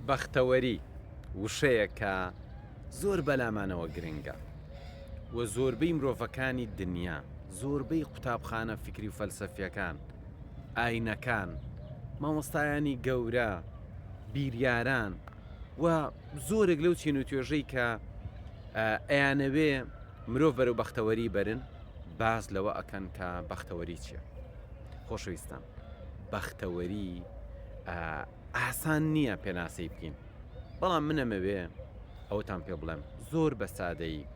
بەختەوەری وشەیە کە زۆر بەلامانەوە گرنگە و زۆربەی مرۆڤەکانی دنیا زۆربەی قوتابخانە فکری و فەلسەفیەکان ئاینەکان مامۆستایانی گەورە بیریاران و زۆرێک لەو چین و توێژەی کە ئەیانەوێ مرۆڤ بەرەو بەختەوەری بەرن باز لەوە ئەکەن کە بەختەوەری چیە خۆشەویستان بەختەوەری ئاسان نییە پێناسەی بکەین بەڵام منەمەوێ ئەوتان پێ بڵێم زۆر بە سادەیی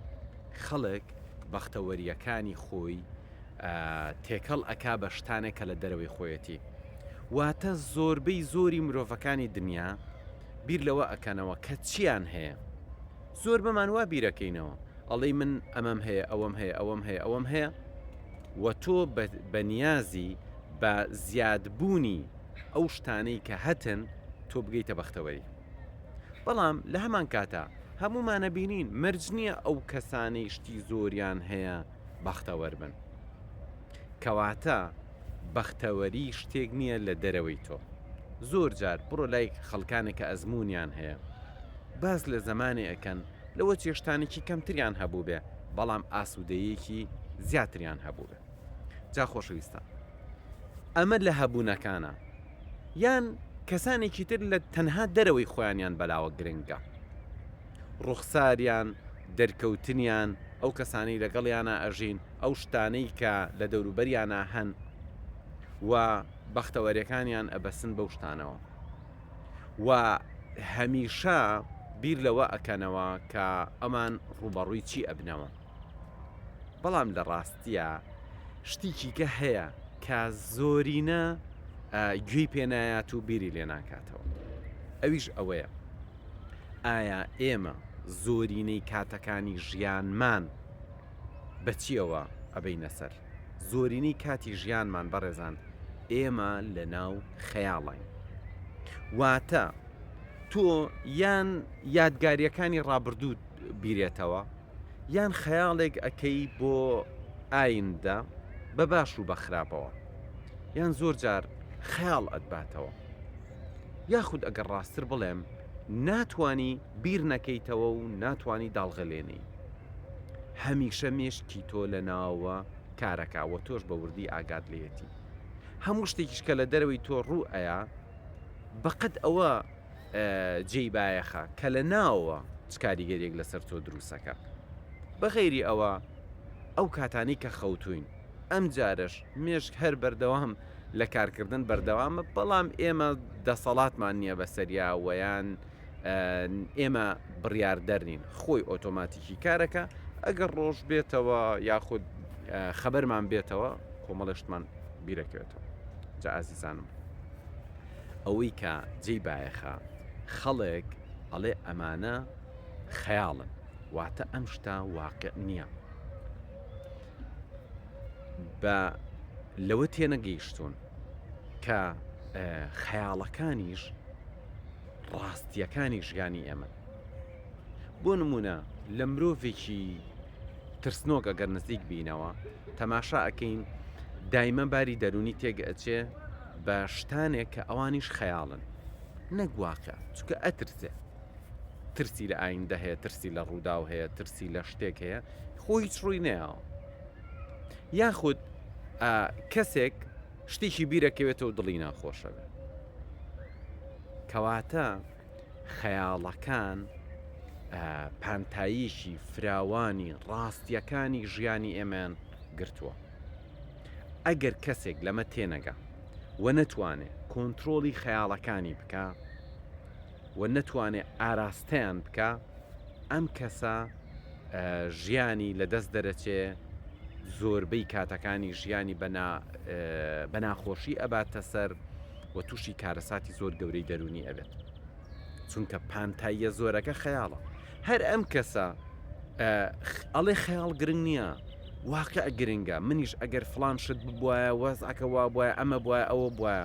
خەڵک بەختەوەریەکانی خۆی تێکەڵ ئەک بە شتانێک کە لە دەرەوەی خۆیەتی واتە زۆربەی زۆری مرۆڤەکانی دنیا بیر لەوە ئەکەنەوە کە چیان هەیە زۆر بەمان وا بیرەکەینەوە ئەڵێی من ئەمەم هەیە ئەوەم هەیە ئەوەم هەیە ئەوەم هەیە و تۆ بە نیازی بە زیادبوونی ئەو شتانەی کە هەتن تۆ بگەیتە بەختەوەری بەڵام لە هەمان کاتا هەمومانە بینین مرج نییە ئەو کەسانەی شتی زۆریان هەیە بەختەوەربن کەواتە بەختەوەری شتێک نیە لە دەرەوەی تۆ زۆر جار بڕۆ لای خەڵکانێک کە ئەزمونیان هەیە باس لە زەمانێ ئەکەن لەوە چێشتانێکی کەمتریان هەبووبێ بەڵام ئاسودەیەکی زیاتریان هەبووبێ جا خۆشەویستان ئەمە لە هەبوونەکانە یان کەسانێکی تر لە تەنها دەرەوەی خۆیانیان بەلاوە گرنگە ڕوخساریان دەرکەوتنیان ئەو کەسانی لەگەڵیانە ئەژین ئەو شتانەی کە لە دەوروبەریانا هەن و بەختەوەرێکانیان ئەبەسن بەو شتانەوە و هەمیشە بیر لەوە ئەکەنەوە کە ئەمان ڕوبەڕووی چی ئەبنەوە بەڵام لە ڕاستیە شتیکی کە هەیە کە زۆرینە گوێی پێنایات و بیری لێ ناکاتەوە ئەویش ئەوەیە ئایا ئێمە زۆرینەی کاتەکانی ژیانمان بەچیەوە ئەبەینە سەر زۆرینەی کاتی ژیانمان بەڕێزان ئێمە لەناو خەیاڵین واتە تۆ یان یادگاریەکانی ڕابردوو بیرێتەوە یان خەیاڵێک ئەکەی بۆ ئایندە بە باش و بە خراپەوە یان زۆر جار خەیاڵ ئەتباتەوە یاخود ئەگەر ڕاستتر بڵێم ناتانی بیر نەکەیتەوە و ناتانی داڵغەلێنی هەمیشە مێشکی تۆ لە ناوە کارەکا وە تۆش بە وردی ئاگات لێیەتی هەموو شتێکیش کە لە دەرەوەی تۆ ڕوو ئەیا بەقەد ئەوە جێی بایەخە کە لە ناوەوە چ کاریگەریەک لەسەر تۆ دروستەکە بەغێری ئەوە ئەو کاتانی کە خەوتوین ئەم جارش مێشک هەر بەردەوام لە کارکردن بەردەوامە بەڵام ئێمە دەسەڵاتمان نییە بەسەریا وەیان ئێمە بڕیاردەر نین خۆی ئۆتۆماتیکی کارەکە ئەگەر ڕۆژ بێتەوە یاخود خەبەرمان بێتەوە کۆمەڵشتمان بیرەکەوێتەوە جا ئازیزانم ئەوەی کە جێی بایەخە خەڵێک ئەڵێ ئەمانە خەیاڵن واتە ئەم شتا واقع نییە بە لەوە تێنەگەیشتون کە خەیاڵەکانیش ڕاستیەکانی ژیانی ئێمەن بۆ نمونە لە مرۆڤێکی ترسنۆک ئەگەر نزیک بینەوە تەماشا ئەەکەین دایمە باری دەرونی تێک ئەچێ بە شتانێک کە ئەوانیش خەیاڵن نەگوواقع چکە ئەترسێ ترسی لە ئایندە هەیە ترسی لە ڕووداو هەیە ترسی لە شتێک هەیە خۆ هیچ ڕووی نەیەوە یاخود کەسێک شتێکی بیرەکەوێتەوە دڵی ناخۆشەوێ کەواتە خەیاڵەکان پانتاییشی فراوانی ڕاستیەکانی ژیانی ئێمەیان گرتووە ئەگەر کەسێک لەمە تێنەگا و نەتوانێت کۆنتترۆلی خەیاڵەکانی بکە و نەتوانێ ئاراستەیان بکا ئەم کەسە ژیانی لە دەست دەرەچێ زۆربەی کاتەکانی ژیانی بەناخۆشی ئەباتە سەر و تووشی کارەساتی زۆر گەورەی دەرونی ئەبێت چونکە پانتاییە زۆرەکە خەیاڵە هەر ئەم کەسە ئەڵێ خەیاڵ گرنگ نییە واقع گرنگە منیش ئەگەر فلان شت ببواە وەزعەکە وا بواە ئەمە بواە ئەوە بواە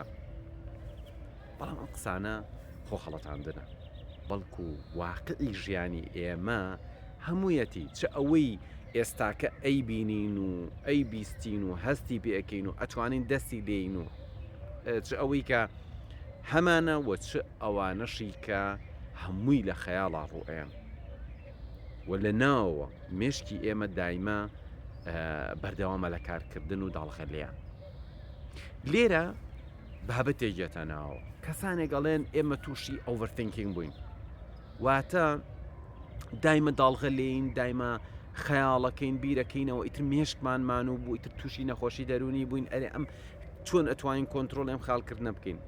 بەڵام ئەم قسانە خۆ خەڵەتاندنە، بەڵکو واقعی ژیانی ئێمە هەموویەتی، چ ئەوەی ئێستاکە ئەیبینین و ئەیبیستین و هەستی پێئەکەین و ئەتوانین دەستی لێین و چ ئەوەی کە هەمانە و چ ئەوانەشی کە هەمووی لە خەیاڵا ڕوئەیەن و لە ناوەوە مێشکی ئێمە دایمە بەردەوامە لە کارکردن و داڵغە لێیان لێرە بابەت دەیگێتە ناوەوە. کەسانێک ئەڵێن ئێمە تووشی ئۆڤەر ثینکینگ بووین واتە دایمە داڵغە لێین دایمە خەیاڵەکەین بیرەکەینەوە ئیتر مێشکمان مانوو بوو ئیتر تووشی نەخۆشی دەرونی بووین ئەرێ ئەم چۆن ئەتوانین کۆنتترۆل ئەم خاڵکردنە بکەین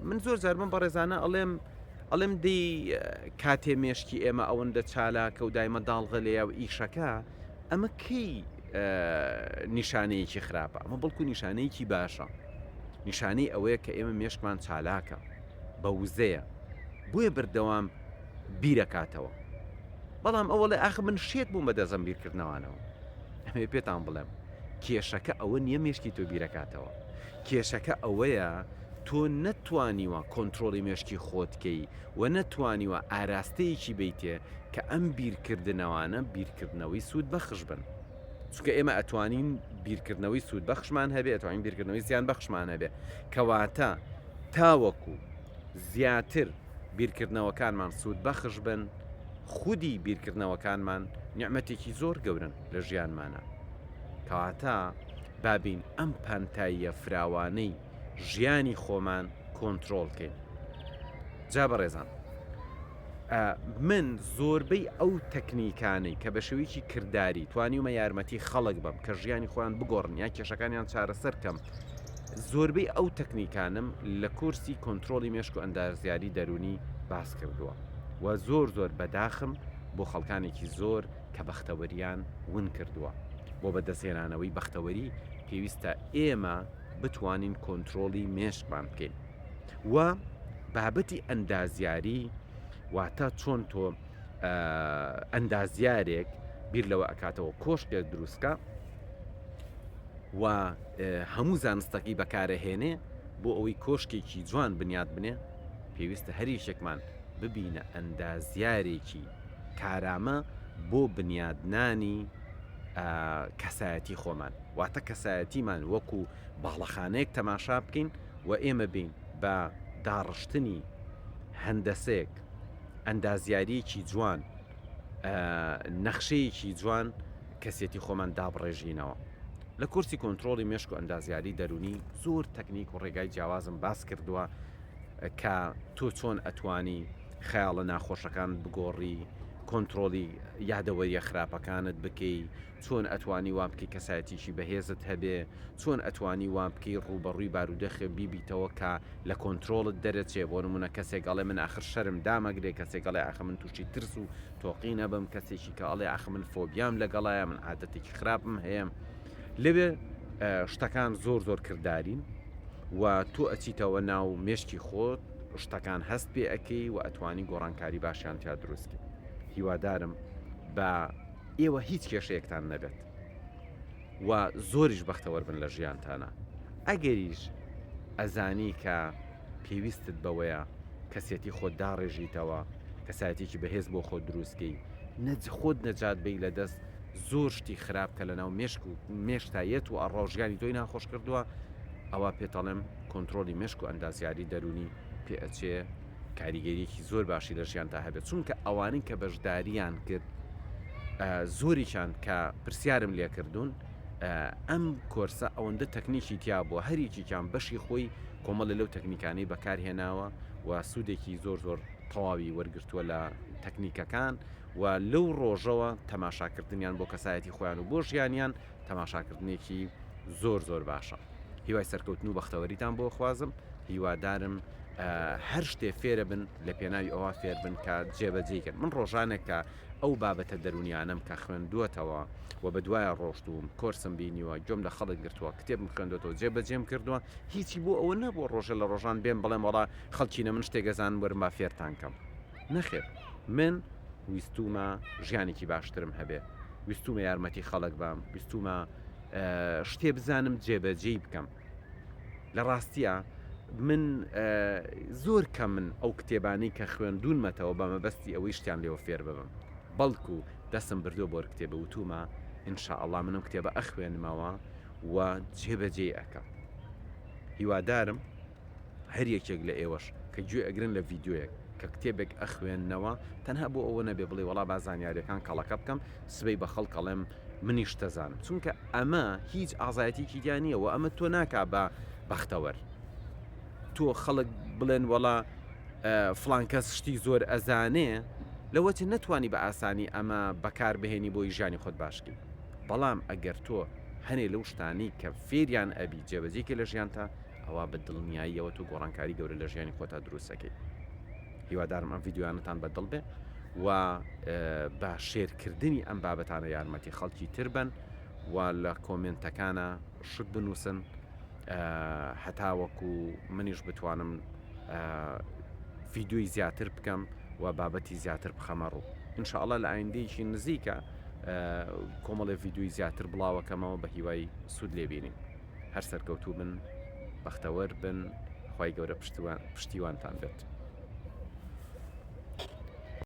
من زۆر زارمە بەڕێزانە ئەڵێم ئەڵێم دی کاتێ مێشکی ئێمە ئەوەندە چالاکە و دایمە داڵغە لێە و ئیشەکە ئەمە کەی نیشانەیەکی خراپە ئەمە بەڵکو نیشانەیەکی باشە نیشانەی ئەوەیە کە ئێمە مێشکمان چالاکە بە وزەیە بۆیە بەردەوام بیرەکاتەوە بەڵام ئەوەڵێ ئاخ من شێت بووم بە دەزم بیرکردنەوانەوە ئەمێ پێتان بڵێم کێشەکە ئەوە نییە مشکی تۆ بیرەکاتەوە کێشەکە ئەوەیە تۆ نەتوانیوە کۆنتترۆلی مشکی خۆتکەی و نەتوانیوە ئاراستەیەکی بەیتێ کە ئەم بیرکردنەوانە بیرکردنەوەی سوود بەخش بن چونکە ئێمە ئەتوانین بیرکردنەوەی سوود بەخشمان هەبێ ئەتوانین بیرکردنەوەی زیان بەخشمان هەبێ کەواتە تاوەکو زیاتر بیرکردنەوەکانمان سوود بەخش بن خودی بیرکردنەوەکانمان نیعممەتێکی زۆر گەورن لە ژیانمانە کەواتە بابین ئەم پانتاییە فراوانەی ژیانی خۆمان کۆنترۆڵکەین جا بەڕێزان من زۆربەی ئەو تەکنیکانەی کە بە شێوەیەکی کردداری توانیومە یارمەتی خەڵک بم کە ژیانی خۆیان بگۆڕن یا کێشەکانیان چارەسەر کەم زۆربەی ئەو تەکنیکانم لە کورسی کۆنتترۆلی مێشک و ئەندازیاری دەرونی باس کردووە و زۆر زۆر بەداخم بۆ خەڵکانێکی زۆر کە بەختەوەریان ون کردووە بۆ بەدەستێنانەوەی بەختەوەری پێویستە ئێمە بتوانین کۆنترۆڵی مێشکمان بکەین و بابەتی ئەندازیاری واتە چۆن تۆ ئەندازیارێک بیر لەوە ئەکاتەوە کۆشکێک دروستکە و هەموو زانستەکەی بەکارەهێنێ بۆ ئەوەی کۆشکێکی جوان بنیاد بنێ پێویستە هەریشێکمان ببینە ئەندازیارێکی کارامە بۆ بنیادنانی کەسایەتی خۆمان واتە کەسایەتیمان وەکو باڵەخانەیەک تەماشا بکەین و ئێمە بین بە داڕشتنی هەندەسێک ئەندازیاریەکی جوان نەخشەیەکی جوان کەسێتی خۆمان دابڕێژینەوە لە کورسی کۆنتترۆلی مشک و ئەندازیاری دەرونی زۆر تەکنیک و ڕێگای جیاوازم باس کردووە کە تۆ چۆن ئەتوانی خەیاڵە ناخۆشەکان بگۆڕی کۆنترۆڵی یادەوەریە خراپەکانت بکەی، چۆن ئەتوانی وان بکەی کەسایەتیەکی بەهێزت هەبێ، چۆن ئەتوانی وان بکەی ڕووبەڕووی بارودۆخێ بیبیتەوە کە لە کۆنترۆڵت دەرەچێ، بۆ نمونە کەسێک ئەڵێ من ئاخر شەرم دامەگرێ، کەسێک ئەڵێ ئاخ من توشی ترس و تۆقین ئەبم، کەسێکی کە ئەڵێ ئاخ من فۆبیام لەگەڵایە، من عادەتێکی خراپم هەیە. لەوێ شتەکان زۆر زۆر کردارین و تۆ ئەچیتەوە ناو مێشکی خۆت، شتەکان هەست پێ ئەکەی و ئەتوانی گۆڕانکاری باشیان تیا دروستکە هیوادارم بە ئێوە هیچ کێشەیەکتان نەبێت و زۆریش بەختەوەەر بن لە ژیانتانە ئەگەریش ئەزانی کە پێویستت بەوەیە کەسێتی خۆت داڕێژیتەوە کەسایەتێکی بەهێز بۆ خۆ دروستکەی نەج خۆت نەجات بی لە دەست زۆر شتی خراپ کە لەناو مێشک و مێشکتا یەت و ئەڕا و ژیانی تۆی ناخۆش کردووە ئەوا پێت ئەڵێم کۆنترۆڵی مێشک و ئەندازیاری دەروونی پێ ئەچێ کاریگەریەکی زۆر باشی لە ژیانتا هەبێت چونکە ئەوانەی کە بەشداریان کرد زۆریشان کە پرسیارم لێکردوون ئەم کۆرسە ئەوەندە تەکنیکی تیا بووە هەریکیان بەشی خۆی کۆمەڵی لەو تەکنیکانەی بەکارهێناوە و سوودێکی زۆر زۆر تەواوی وەرگتووە لە تەکنیکەکان و لەو ڕۆژەوە تەماشاکردنیان بۆ کەسایەتی خۆیان و بۆ ژیانیان تەماشاکردنێکی زۆر زۆر باشە هیوای سەرکەوتن و بەختەوەریتان بۆ خوازم هیوادارم هەر شتێ فێرە بن لە پێناوی ئەوە فێر بن کە جێبەجێکن من ڕۆژانێک کە ئەو بابەتە دەرونیانم کە خوێندووەتەوە و بە دوایە ڕۆشتوم کۆرسم بینیوە گوم لە خەڵک گرتووە کتێبم خوێندەوە جێبەجێم کردووە هیچی بۆ ئەوە نەبوو ڕۆژە لە ڕۆژان بێن بڵێم وڵا خەڵکینە من شتێگەزان وەرما فێرتانکەم نەخێر من ویستومە ژیانێکی باشترم هەبێ ویستومە یارمەتی خەڵک بام ویستومە شتێ بزانم جێبەجێی بکەم لە ڕاستیە من زۆر کە من ئەو کتێبانی کە خوێندونمەتەوە بە مەبەستی ئەوەی شتیان لێوە فێر ببم بەڵکو دەسم بردو بۆر کتێبە وتومە ئینشاءله منم کتێبە ئەخوێنمەوە و جێبەجێ ئەەکەم هیوادارم هەر یەکێک لە ئێوەش کە گوێ ئەگرن لە ڤیدیۆیەک کە کتێبێک ئەخوێننەوە تەنها بۆ ئەوە نەبێ بڵێ وەڵا با زانیاریەکان کەڵەکە بکەم سبەی بە خەڵک ئەڵێم منیش تەزانم چونکە ئەمە هیچ ئازایەتێکی تیا نییە و ئەمە تۆ ناکا بە بەختەوەر تۆ خەڵک بڵێن وەڵا فلان کەس شتی زۆر ئەزانێ لەوە چ نەتوانی بە ئاسانی ئەمە بەکار بهێنی بۆی ژانی خۆت باشکی بەڵام ئەگەر تۆ هەنێ لەو شتانی کە فێریان ئەبی جێبەجێکی لە ژیانتە ئەوا بە دڵنیاییەوە تۆ گۆڕانکاری گەورە لە ژیانی خۆتا دروست دەکەیت هیوادارم ئەم یددیوانتان بە دڵ بێ و بە شێرکردنی ئەم بابەتانە یارمەتی خەڵکی تر بن و لە کۆمنتەکانە شت بنووسن هەتاوەکو منیش بتوانم فیددیوی زیاتر بکەم و بابەتی زیاتر بخەمە ڕوو انشاءله لە ئایندەیەکی نزیکە کۆمەڵی یددیوی زیاتر بڵاوەکەمەوە بە هیوای سوود لێبینین هەر سەرکەوتوو بن بەختەوەر بن خوای گەورە پشتیوانتان بێت.